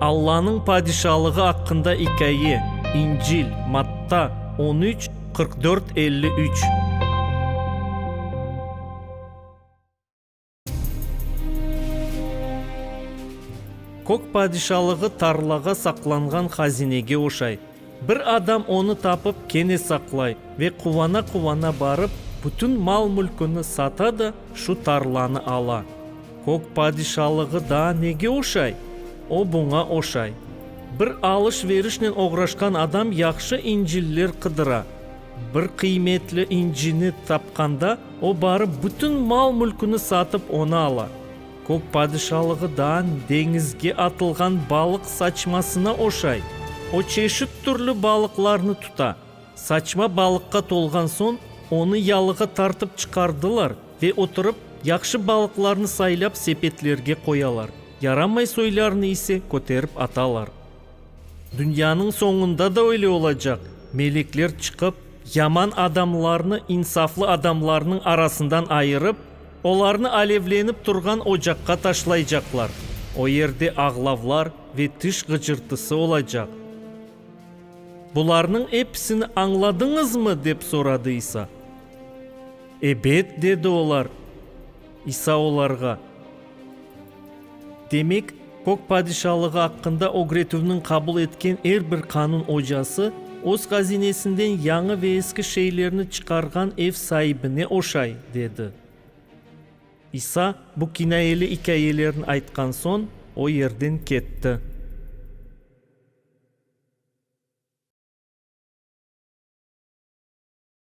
Allanıñ padişalığı aqqında ikâye, İncil, Matta, on üç, qırq dört, elli üç. Kök padişalığı tarlağa saqlanğan hazinege oşay. Bir adam onı tapıp kene saqlay ve quvana-quvana barıp, bütün mal-mülküni sata da şu tarlanı ala. Kök padişalığı daa nege oşay? O buña oşay. Bir alış-verişnen oğraşqan adam yahşı inciller qıdıra. Bir qıymetli incini tapqanda, o barıp bütün mal-mülküni satıp onı ala. Kök padişalıgıdan deñizge atılğan balıq saçmasına oşay. O çeşit türlü balıqlarnı tuta. Saçma balıqqa tolğan soñ, onı yalığa tartıp çıqardılar ve oturıp, yahşı balıqlarnı saylap sepetlerge qoyalar, yaramay soylarnı ise köterip atalar. Dünyanıñ soñunda da öyle olacaq, melekler çıqıp, yaman adamlarnı insaflı adamlarnıñ arasından ayırıp, Olarnı alevlenip turğan ocaqqa taşlaycaqlar, o yerde ağlavlar ve tiş ğıcırtısı olacaq. Bularnıñ episini añladıñızmı? dep soradı İsa. Ebet, dedi olar. İsa olarğa. Demek, Kök padişalığı aqqında ögretüvniñ qabul etken er bir qanun ocası öz hazinesinden yañı ve eski şeylerni çıqarğan ev saibine oşay, dedi. İsa bu kinayeli ikâyelerni aytqan soñ, o yerden ketti.